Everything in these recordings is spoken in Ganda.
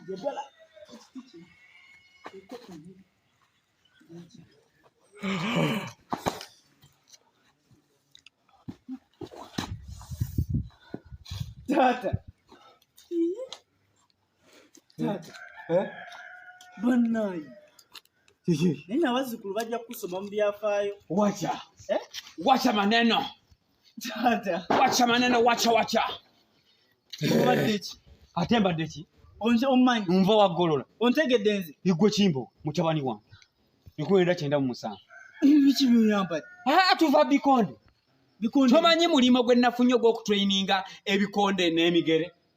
njagala ekiti kino eko emu taata taata eh? banayi naye nabazzukulu bajja kusoma mu byafaayo wacha eh? wacha maneno wacha maneno wacha wacha ate mbadde ki omanyi nva wagolola ontegedde nze igwe kimbo mutabani wange ikwenda kyenda mu musanvu biki byoyambadde tuva bikonde tomanyi mulimu gwe nafunye ogw'okutraininga ebikonde n'emigere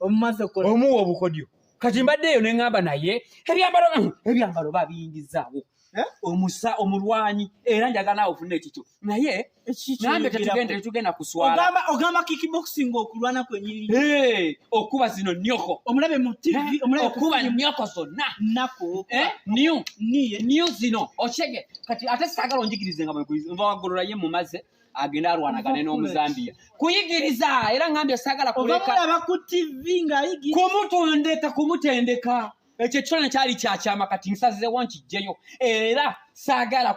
omumaze okukola omuwa obukodyo kati mbadde eyo neŋamba naye ebyambalo mm, ebyambalo babiyingizaawo eh? omusa omulwanyi era njagala awo ofuna ekikyo naye nambe tetugenda tetugenda kuswalaogamba ogamba kickboxing okulwana kwenyini eh, okuba zino nyoko omulabe mu tv eh, omulabe okuba nyoko zonna nako new new zino okyege kati ate sagala onjigirize nga bwegolola ye mumaze agenda alwanagane n'omuzambiya kuyigiriza era ngambye sagala kulekaaba ku tv ngaayigiriza kumutondeka kumutendeka ekyo ekifaananyi kyali kyakyama kati nsazizewo nkijjeyo era saagala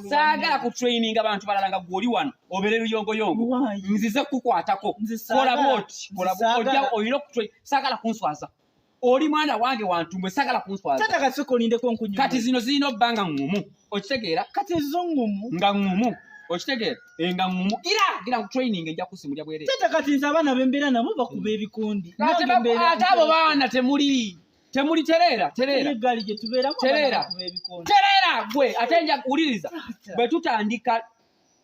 saagala ku traininga bantu balala nga gwoli wano obeere luyongoyongo nzize kukwatako kola bwoti olina saagala kunswaza oli mwana wange wantumbwe sagala kunswazakati zino zirina obba nga ngumu okitegeera kati zo ngumu nga ngumu okitegeera eh, nga ngumu ira gira ku training ejja kusimulya bwere tata kati nze abaana bembeera nabo bakuba hmm. ebikundi ate abo baana temuli temuli tereera tereera tereera tereera gwe ate nja kuwuliriza bwe tutandika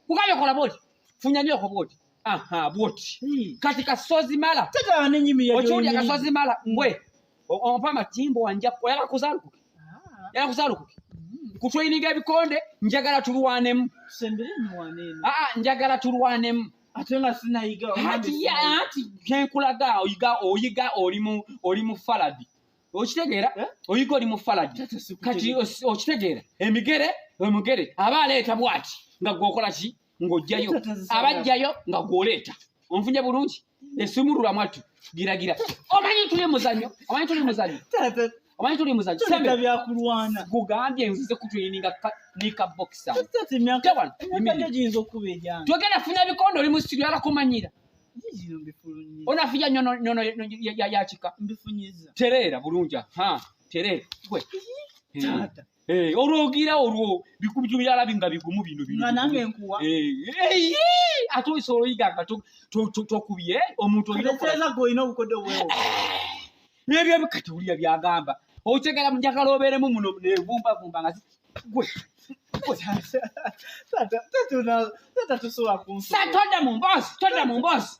kukabyokola bwoti funya nyoko bwoti aha bwoti Hii. kati kasozi mala Tata wane nyimi ya okiwulira joyini. kasozi mala mbwe o- ompa amatimbo wanja oyala kuzalukuke Ah, yala kuzalukuke mm. kutweyininga ebikonde njagala tulwanemu Tusembere ni wanene. aa njagala tulwanemu Ate nga sinayiga. omange hati ya- sinayiga. hati kenkulaga oyiga oyiga oli mu oli mu faladi okitegeera Eh? oyiga oli mu faladi Tata sikutegera. kati os- okitegeera emigere omugere aba aleeta bwati nga gwokola ki ng'oggyayo abaggyayo nga gw'oleeta onfunye bulungi esumulula mwattu giragira omanyi tuli muzanyo omanyi tuli muzanyo omanyi tuli muzanyo sembe byakulwana gugambye nzize kutuyininga nika boxer tete myaka tete jinzo okubeja togenda funa bikondo oli mu studio ala kumanyira onafuja nyono nyono ya ya chika mbifunyiza terera bulunja ha terera gwe tata hmm. Eh, olwogira olwo bikubito byalabi nga bigumu bino bino nga nange nkuwa eh, eh, eh, ate oyisa oloyiga nga tokubye omuntu olinaeza gwe olina obukodde obwewo nebyo bikati wulira byagamba okitegera mujakala obeeremu muno nevumbavumba nga gwe tata tusobola kunsi tata todda mu mboozi todda mu mboozi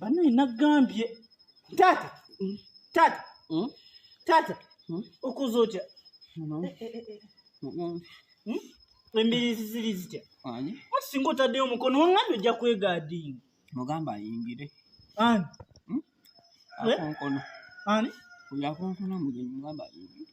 banaye nagambye taata hmm? taata hmm? taata hmm? okoze otya eh, eh, eh, embirizi ziri zitya singa otaddeyo omukono wangani ojja kwegaadinga mugamba ayingire ani akonkono ani oyo akonkono mugenyi mugamba ayingire